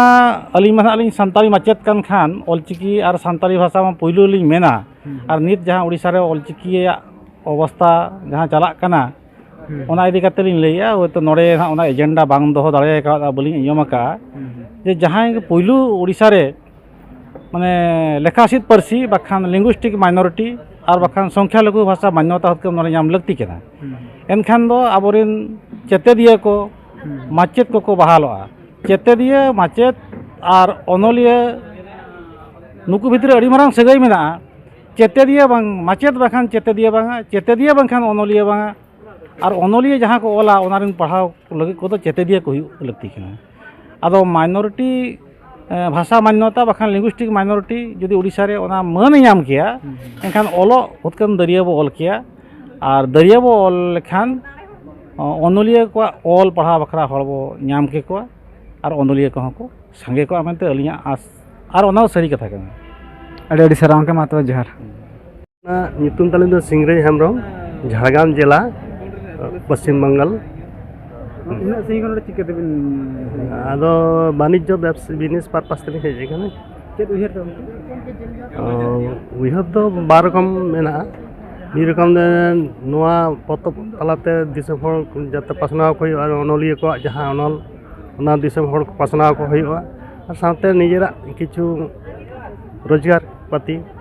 ᱟᱹᱞᱤᱧ ᱢᱟ ᱱᱟᱦᱟᱜ ᱞᱤᱧ ᱥᱟᱱᱛᱟᱲᱤ ᱢᱟᱪᱮᱫ ᱠᱟᱱ ᱠᱷᱟᱱ ᱚᱞᱪᱤᱠᱤ ᱟᱨ ᱥᱟᱱᱛᱟᱲᱤ ᱵᱷᱟᱥᱟ ᱢᱟ ᱯᱩᱭᱞᱩ ᱞᱤᱧ ᱢᱮᱱᱟ ᱟᱨ ᱱᱤᱛ ᱡᱟᱦᱟᱸ ᱩᱲᱤᱥᱥᱟ ᱨᱮ ᱚᱞᱪᱤᱠᱤᱭᱟᱜ ᱚᱵᱚᱥᱛᱟ ᱡᱟᱦᱟᱸ ᱪᱟᱞᱟᱜ ᱠᱟᱱᱟ ᱚᱱᱟ ᱤᱫᱤ ᱠᱟᱛᱮ ᱞᱤᱧ ᱞᱟᱹᱭᱮᱜᱼᱟ ᱦᱳᱭᱛᱳ ᱱᱚᱰᱮ ᱱᱟᱦᱟᱜ ᱚᱱᱟ ᱮᱡᱮᱱᱰᱟ ᱵᱟᱝ ᱫᱚᱦᱚ ᱫᱟᱲᱮ ᱠᱟᱣᱫᱟ ᱵᱟᱹᱞᱤᱧ ᱟᱸᱡᱚᱢ ᱟᱠᱟᱫᱼᱟ ᱡᱮ ᱡᱟᱦᱟᱸᱭ ᱜᱮ ᱯᱩᱭᱞᱩ ᱩᱲᱤᱥᱥᱟ ᱨᱮ ᱢᱟᱱᱮ ᱞᱮᱠᱷᱟᱥᱤᱫ ᱯᱟᱹᱨᱥᱤ ᱵᱟᱠᱷᱟᱱ ᱞᱤᱝᱜᱩᱥᱴᱤᱠ ᱢᱟᱭᱱᱚᱨᱤᱴᱤ ᱟᱨ ᱵᱟᱠᱷᱟᱱ ᱥᱚᱝᱠᱷᱟ ᱞᱚᱜᱷᱩ ᱵᱷᱟᱥᱟ ᱢᱟᱱᱭᱚᱛᱟ ᱦᱚᱛᱠᱟᱹᱢ ᱱᱚᱰᱮ ᱧᱟᱢ ᱞᱟᱹᱠᱛᱤ ᱠᱟᱱᱟ ᱮᱱᱠᱷᱟᱱ ᱫᱚ ᱟᱵᱚᱨᱮᱱ ᱪᱮᱛᱮᱫᱤᱭᱟᱹ ᱠᱚ ᱢᱟᱪᱮᱫ ᱠᱚᱠᱚ ᱵᱟᱦᱟᱞᱚᱜᱼᱟ ᱪᱮᱛᱮᱫᱤᱭᱟᱹ ᱢᱟᱪᱮᱫ ᱟᱨ ᱚᱱᱚᱞᱤᱭᱟᱹ ᱱᱩᱠᱩ ᱵᱷᱤᱛᱨᱤ ᱟᱹᱰᱤ ᱢᱟᱨᱟᱝ ᱥᱟᱹᱜᱟᱹᱭ ᱢᱮᱱᱟᱜᱼᱟ ᱪᱮᱛᱮᱫᱤᱭᱟᱹ ᱵᱟᱝ ᱢᱟᱪᱮᱫ ᱵᱟᱠᱷᱟᱱ ᱪᱮᱛᱮᱫᱤᱭᱟᱹ ᱵᱟᱝᱟ ᱪᱮᱛᱮᱫᱤᱭᱟᱹ ᱵᱟᱝᱠᱷᱟᱱ ᱚᱱᱚᱞᱤᱭᱟᱹ ᱵᱟᱝᱟ ᱟᱨ ᱚᱱᱚᱞᱤᱭᱟᱹ ᱡᱟᱦᱟᱸ ᱠᱚ ᱚᱞᱟ ᱚᱱᱟ ᱨᱮᱱ ᱯᱟᱲᱦᱟᱣ ᱞᱟᱹᱜᱤᱫ ᱠᱚᱫᱚ ᱪᱮᱛᱮᱫᱤᱭᱟᱹ ᱠᱚ ᱦᱩᱭᱩᱜ ᱞᱟᱹᱠᱛᱤ ᱠᱟᱱᱟ ᱟᱫᱚ ᱢᱟᱭᱱᱚᱨᱤᱴᱤ ᱵᱷᱟᱥᱟ ᱢᱟᱱᱱᱚᱛᱟ ᱵᱟᱠᱷᱟᱱ ᱞᱤᱝᱜᱩᱥᱴᱤᱠ ᱢᱟᱭᱱᱚᱨᱤᱴᱤ ᱡᱩᱫᱤ ᱳᱰᱤᱥᱟ ᱨᱮ ᱚᱱᱟ ᱢᱟᱹᱱᱮ ᱧᱟᱢ ᱠᱮᱭᱟ ᱮᱱᱠᱷᱟᱱ ᱚᱞᱚᱜ ᱩᱛᱠᱟᱹᱢ ᱫᱟᱹᱨᱭᱟᱹ ᱵᱚ ᱚᱞ ᱠᱮᱭᱟ ᱟᱨ ᱫᱟᱹᱨᱭᱟᱹ ᱵᱚ ᱚᱞ ᱞᱮᱠᱷᱟᱱ ᱚᱱᱚᱞᱤᱭᱟᱹ ᱠᱚᱣᱟᱜ ᱚᱞ ᱯᱟᱲᱦᱟᱣ ᱵᱟᱠᱷᱨᱟ ᱦᱚᱲ ᱵᱚ ᱧᱟᱢ ᱠᱮᱠᱚᱣᱟ ᱟᱨ ᱚᱱᱚᱞᱤᱭᱟᱹ ᱠᱚᱦᱚᱸ ᱠᱚ ᱥᱟᱸᱜᱮ ᱠᱚᱜᱼᱟ ᱢᱮᱱᱛᱮ ᱟᱹᱞᱤᱧᱟᱜ ᱟᱸᱥ ᱟᱨ ᱚᱱᱟ ᱫᱚ ᱥᱟᱹᱨᱤ ᱠᱟᱛᱷᱟ ᱠᱟᱱᱟ ᱟᱹᱰᱤ ᱟᱹᱰᱤ ᱥᱟᱨᱦᱟᱣ ᱜᱚᱢᱠᱮ ᱢᱟ ᱛᱚᱵᱮ ᱡᱚᱦᱟᱨ ᱧᱩᱛᱩᱢ ᱛᱟᱹᱞᱤᱧ ᱫᱚ ᱥᱤᱝᱨᱟᱹᱭ ᱦᱮᱢᱵᱨᱚᱢ ᱡᱷᱟᱲᱜᱨᱟᱢ ᱡᱮᱞᱟ ᱯᱚᱥᱪᱤᱢ ᱵᱟᱝᱜᱟᱞ ᱩᱱᱟᱹᱜ ᱥᱟᱺᱜᱤᱧ ᱠᱷᱚᱱ ᱪᱤᱠᱟᱹ ᱛᱮᱵᱤᱱ ᱟᱫᱚ ᱵᱟᱱᱤᱡᱽᱡᱚ ᱵᱮᱵᱥᱟ ᱵᱤᱡᱽᱱᱮᱥ ᱯᱟᱨᱯᱟᱥ ᱛᱮᱞᱤᱧ ᱦᱮᱡ ᱟᱠᱟᱱᱟ ᱪᱮᱫ ᱩᱭᱦᱟᱹᱨ ᱫᱚ ᱩᱭᱦᱟᱹᱨ ᱫᱚ ᱵᱟᱨ ᱨᱚᱠᱚᱢ ᱢᱮᱱᱟᱜᱼᱟ ᱢᱤᱫ ᱨᱚᱠᱚᱢ ᱫᱚ ᱱᱚᱣᱟ ᱯᱚᱛᱚᱵ ᱛᱟᱞᱟᱛᱮ ᱫᱤᱥᱚᱢ ᱦᱚᱲ ᱡᱟᱛᱮ ᱯᱟᱥᱱᱟᱣ ᱠᱚ ᱦᱩᱭᱩᱜᱼᱟ ᱚᱱᱚᱞᱤᱭᱟᱹ ᱠᱚᱣᱟᱜ ᱡᱟᱦᱟᱸ ᱚᱱᱚᱞ ᱚᱱᱟ ᱫᱤᱥᱚᱢ ᱦᱚᱲ ᱯᱟᱥᱱᱟᱣ ᱠᱚ ᱦᱩᱭᱩᱜᱼᱟ ᱟᱨ ᱥᱟᱶᱛᱮ ᱱᱤᱡᱮᱨᱟᱜ ᱠᱤᱪᱷᱩ ᱨᱳᱡᱽᱜᱟᱨ ᱯᱟᱹᱛᱤ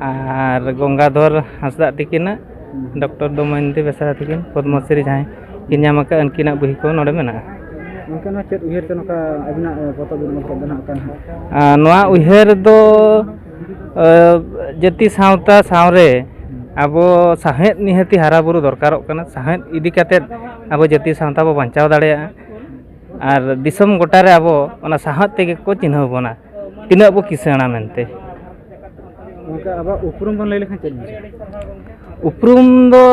ᱟᱨ ᱜᱚᱝᱜᱟᱫᱷᱚᱨ ᱦᱟᱸᱥᱫᱟ ᱛᱟᱹᱠᱤᱱᱟᱜ ᱰᱚᱠᱴᱚᱨ ᱫᱚᱢᱚᱭᱚᱱᱛᱤ ᱵᱮᱥᱨᱟ ᱛᱟᱹᱠᱤᱱ ᱯᱚᱫᱽᱢᱚ ᱥᱨᱤ ᱡᱟᱦᱟᱸᱭ ᱠᱤᱱ ᱧᱟᱢ ᱟᱠᱟᱫ ᱩᱱᱠᱤᱱᱟᱜ ᱵᱳᱭ ᱠᱚ ᱱᱚᱰᱮ ᱢᱮᱱᱟᱜᱼᱟ ᱚᱱᱠᱟᱱᱟᱜ ᱪᱮᱫ ᱩᱭᱦᱟᱹᱨ ᱛᱮ ᱱᱚᱝᱠᱟ ᱟᱹᱵᱤᱱᱟᱜ ᱯᱚᱛᱚᱵ ᱵᱤᱱ ᱚᱞ ᱠᱮᱫ ᱫᱚ ᱱᱟᱦᱟᱜ ᱠᱟᱱᱟ ᱱᱚᱣᱟ ᱩᱭᱦᱟᱹᱨ ᱫᱚ ᱡᱟᱹᱛᱤ ᱥᱟᱶᱛᱟ ᱥᱟᱶᱨᱮ ᱟᱵᱚ ᱥᱟᱶᱦᱮᱫ ᱱᱤᱦᱟᱹᱛ ᱦᱟᱨᱟᱼᱵᱩᱨᱩ ᱫᱚᱨᱠᱟᱨᱚᱜ ᱠᱟᱱᱟ ᱥᱟᱶᱦᱮᱫ ᱤᱫᱤ ᱠᱟᱛᱮᱫ ᱟᱵᱚ ᱡᱟᱹᱛᱤ ᱥᱟᱶᱛᱟ ᱵᱚᱱ ᱵᱟᱧᱪᱟᱣ ᱫᱟᱲᱮᱭᱟᱜᱼᱟ ᱟᱨ ᱫᱤᱥᱚᱢ ᱜᱚᱴᱟ ᱨᱮ ᱟᱵᱚ ᱚᱱᱟ ᱥᱟᱶᱦᱮᱫ ᱛᱮᱜᱮ ᱠᱚ ᱪᱤᱱᱦᱟᱹᱣ ᱵᱚᱱᱟ ᱛᱤᱱᱟᱹᱜ ᱵᱚ ᱠᱤᱥᱟᱹᱬᱟ ᱢᱮᱱᱛᱮ ᱜᱚᱢᱠᱮ ᱟᱵᱚᱣᱟᱜ ᱩᱯᱨᱩᱢ ᱵᱚᱱ ᱞᱟᱹᱭ ᱞᱮᱠᱷᱟᱱ ᱪᱮᱫ ᱩᱯᱨᱩᱢ ᱫᱚ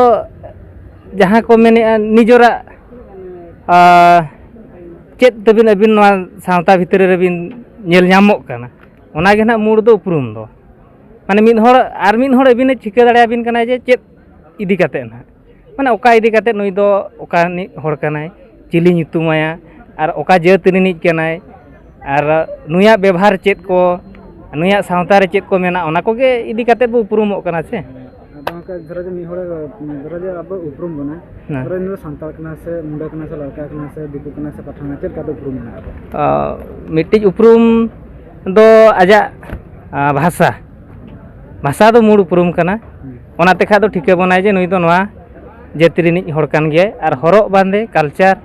ᱡᱟᱦᱟᱸ ᱠᱚ ᱢᱮᱱᱮᱫᱼᱟ ᱱᱤᱡᱚᱨᱟᱜ ᱪᱮᱫ ᱛᱟᱹᱵᱤᱱ ᱟᱹᱵᱤᱱ ᱱᱚᱣᱟ ᱥᱟᱶᱛᱟ ᱵᱷᱤᱛᱨᱤ ᱨᱮᱵᱤᱱ ᱧᱮᱞ ᱧᱟᱢᱚᱜ ᱠᱟᱱᱟ ᱚᱱᱟᱜᱮ ᱱᱟᱦᱟᱜ ᱢᱩᱬ ᱫᱚ ᱩᱯᱨᱩᱢ ᱫᱚ ᱢᱟᱱᱮ ᱢᱤᱫ ᱦᱚᱲ ᱟᱨ ᱢᱤᱫ ᱦᱚᱲ ᱟᱹᱵᱤᱱᱮ ᱴᱷᱤᱠᱟᱹ ᱫᱟᱲᱮᱭᱟᱵᱤᱱ ᱠᱟᱱᱟᱭ ᱡᱮ ᱪᱮᱫ ᱤᱫᱤ ᱠᱟᱛᱮᱫ ᱱᱟᱦᱟᱜ ᱢᱟᱱᱮ ᱚᱠᱟ ᱤᱫᱤ ᱠᱟᱛᱮᱫ ᱱᱩᱭ ᱫᱚ ᱚᱠᱟ ᱨᱤᱱᱤᱡ ᱦᱚᱲ ᱠᱟᱱᱟᱭ ᱪᱤᱞᱤ ᱧᱩᱛᱩᱢᱟᱭᱟ ᱟᱨ ᱚᱠᱟ ᱡᱟᱹᱛ ᱨᱤᱱᱤᱡ ᱠᱟᱱᱟᱭ ᱟᱨ ᱱᱩᱭᱟᱜ ᱵᱮᱵᱷᱟᱨ ᱪᱮᱫ ᱠᱚ ᱱᱩᱭᱟᱜ ᱥᱟᱶᱛᱟ ᱨᱮ ᱪᱮᱫ ᱠᱚ ᱢᱮᱱᱟᱜᱼᱟ ᱚᱱᱟ ᱠᱚᱜᱮ ᱤᱫᱤ ᱠᱟᱛᱮᱫ ᱵᱚᱱ ᱩᱯᱨᱩᱢᱚᱜ ᱠᱟᱱᱟ ᱥᱮ ᱫᱷᱚᱨᱚ ᱡᱮ ᱢᱤᱫ ᱦᱚᱲ ᱫᱷᱚᱨᱚ ᱡᱮ ᱟᱵᱚ ᱩᱯᱨᱩᱢ ᱵᱚᱱᱟ ᱫᱷᱚᱨᱚ ᱱᱩᱭ ᱫᱚ ᱥᱟᱱᱛᱟᱲ ᱠᱟᱱᱟᱭ ᱥᱮ ᱢᱩᱰᱟᱹ ᱠᱟᱱᱟᱭ ᱥᱮ ᱞᱟᱲᱠᱟ ᱠᱟᱱᱟᱭ ᱥᱮ ᱫᱤᱠᱩ ᱠᱟᱱᱟᱭ ᱥᱮ ᱯᱟᱴᱷᱟᱱ ᱪᱮᱫ ᱞᱮᱠᱟᱛᱮ ᱩᱯᱨᱩᱢ ᱢᱮᱱᱟᱜᱼᱟ ᱢᱤᱫᱴᱤᱡ ᱩᱯᱨᱩᱢ ᱫᱚ ᱟᱡᱟᱜ ᱵᱷᱟᱥᱟ ᱵᱷᱟᱥᱟ ᱫᱚ ᱢᱩᱬ ᱩᱯᱨᱩᱢ ᱠᱟᱱᱟ ᱚᱱᱟ ᱛᱮᱠᱷᱟᱡ ᱫᱚ ᱴᱷᱤᱠᱟᱹ ᱵᱚᱱᱟᱭ ᱡᱮ ᱱᱩᱭ ᱫᱚ ᱱᱚᱣᱟ ᱡᱟᱹᱛᱤ ᱨᱤᱱᱤᱡ ᱦᱚᱲ ᱠᱟᱱ ᱜᱮᱭᱟᱭ ᱟᱨ ᱦᱚᱨᱚᱜ ᱵᱟᱸᱫᱮ ᱠᱟᱞᱪᱟᱨ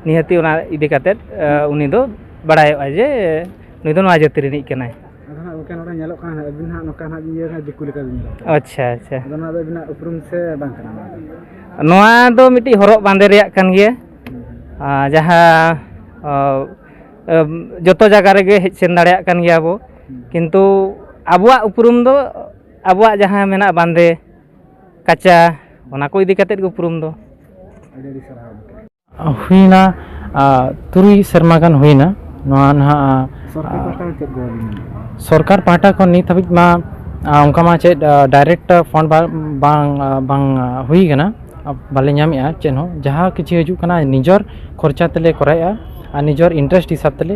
ᱱᱤᱦᱟᱹᱛᱤ ᱚᱱᱟ ᱤᱫᱤ ᱠᱟᱛᱮᱫ ᱩᱱᱤ ᱫᱚ ᱵᱟᱲᱟᱭᱚᱜᱼᱟ ᱡᱮ ᱱᱩᱭ ᱫᱚ ᱱᱚᱣᱟ ᱡᱟᱹᱛᱤ ᱨᱤᱱᱤᱡ ᱠᱟᱱᱟᱭ ᱜᱚᱢᱠᱮ ᱱᱚᱰᱮ ᱧᱮᱞᱚᱜ ᱠᱟᱱᱟ ᱟᱹᱵᱤᱱ ᱦᱟᱸᱜ ᱱᱚᱝᱠᱟ ᱦᱟᱸᱜ ᱤᱭᱟᱹ ᱦᱟᱸᱜ ᱫᱤᱠᱩ ᱞᱮᱠᱟ ᱵᱤᱱ ᱟᱪᱪᱷᱟ ᱟᱪᱪᱷᱟ ᱟᱫᱚ ᱱᱚᱣᱟ ᱫᱚ ᱟᱹᱵᱤᱱᱟᱜ ᱩᱯᱨᱩᱢ ᱥᱮ ᱵᱟᱝ ᱠᱟᱱᱟ ᱱᱚᱣᱟ ᱫᱚ ᱢᱤᱫᱴᱤᱡ ᱦᱚᱨᱚᱜ ᱵᱟᱸᱫᱮ ᱨᱮᱭᱟᱜ ᱠᱟᱱ ᱜᱮᱭᱟ ᱡᱟᱦᱟᱸ ᱡᱚᱛᱚ ᱡᱟᱭᱜᱟ ᱨᱮᱜᱮ ᱦᱮᱡ ᱥᱮᱱ ᱫᱟᱲᱮᱭᱟᱜ ᱠᱟᱱ ᱜᱮᱭᱟ ᱵᱚ ᱠᱤᱱᱛᱩ ᱟᱵᱚᱣᱟᱜ ᱩᱯᱨᱩᱢ ᱫᱚ ᱟᱵᱚᱣᱟᱜ ᱡᱟᱦᱟᱸ ᱢᱮᱱᱟᱜ ᱵᱟᱸᱫᱮ ᱠᱟᱪᱟ ᱚᱱᱟ ᱠᱚ ᱤᱫᱤ ᱠᱟᱛᱮᱫ ᱜᱮ ᱩᱯᱨᱩᱢ ᱫᱚ ᱟᱹᱰᱤ ᱟᱹᱰᱤ ᱥᱟᱨᱦᱟᱣ ᱦᱩᱭᱱᱟ ᱛᱩᱨᱩᱭ ᱥᱮᱨᱢᱟ ᱜᱟᱱ ᱦᱩᱭᱱᱟ ᱱᱚᱣᱟ ᱱᱟᱦᱟᱜ ᱥᱚᱨᱠᱟᱨ ᱯᱟᱦᱴᱟ ᱠᱷᱚᱱ ᱱᱤᱛ ᱦᱟᱹᱵᱤᱡ ᱢᱟ ᱚᱱᱠᱟ ᱢᱟ ᱪᱮᱫ ᱰᱟᱭᱨᱮᱠᱴ ᱯᱷᱳᱱ ᱵᱟᱝ ᱵᱟᱝ ᱦᱩᱭ ᱠᱟᱱᱟ ᱵᱟᱞᱮ ᱧᱟᱢᱮᱜᱼᱟ ᱪᱮᱫ ᱦᱚᱸ ᱡᱟᱦᱟᱸ ᱠᱤᱪᱷᱩ ᱦᱤᱡᱩᱜ ᱠᱟᱱᱟ ᱱᱤᱡᱮᱨ ᱠᱷᱚᱨᱪᱟ ᱛᱮᱞᱮ ᱠᱚᱨᱟᱣᱮᱜᱼᱟ ᱟᱨ ᱱᱤᱡᱮᱨ ᱤᱱᱴᱟᱨᱮᱥᱴ ᱦᱤᱥᱟᱹᱵ ᱛᱮᱞᱮ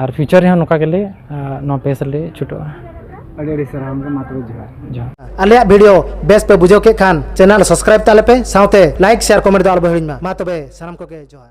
ᱟᱨ ᱯᱷᱤᱭᱩᱪᱟᱨ ᱨᱮᱦᱚᱸ ᱱᱚᱝᱠᱟ ᱜᱮᱞᱮ ᱱᱚᱣᱟ ᱯᱮᱡᱽ ᱨᱮᱞᱮ ᱪᱷᱩᱴᱟᱹᱜᱼᱟ ᱟᱹᱰᱤ ᱟᱹᱰᱤ ᱥᱟᱨᱦᱟᱣ ᱜᱚᱢᱠᱮ ᱢᱟ ᱛᱚᱵᱮ ᱡᱚᱦᱟᱨ ᱡᱚᱦᱟᱨ ᱟᱞᱮᱭᱟᱜ ᱵᱷᱤᱰᱤᱭᱳ ᱵᱮᱥ ᱯᱮ ᱵᱩᱡᱷᱟᱹᱣ ᱠᱮᱫ ᱠᱷᱟᱱ ᱪᱮᱱᱮᱞ ᱥᱟᱵᱥᱠᱨᱟᱭᱤᱵ ᱛᱟᱞᱮ ᱯᱮ ᱥᱟᱶᱛᱮ ᱞᱟᱭᱤᱠ ᱥᱮᱭᱟᱨ ᱠᱚᱢᱮᱱᱴ ᱫᱚ ᱟᱞᱚᱯᱮ ᱦᱤᱲᱤᱧ ᱢᱟ ᱢᱟ ᱛᱚᱵᱮ ᱥᱟᱱᱟᱢ ᱠᱚᱜᱮ ᱡᱚᱦᱟᱨ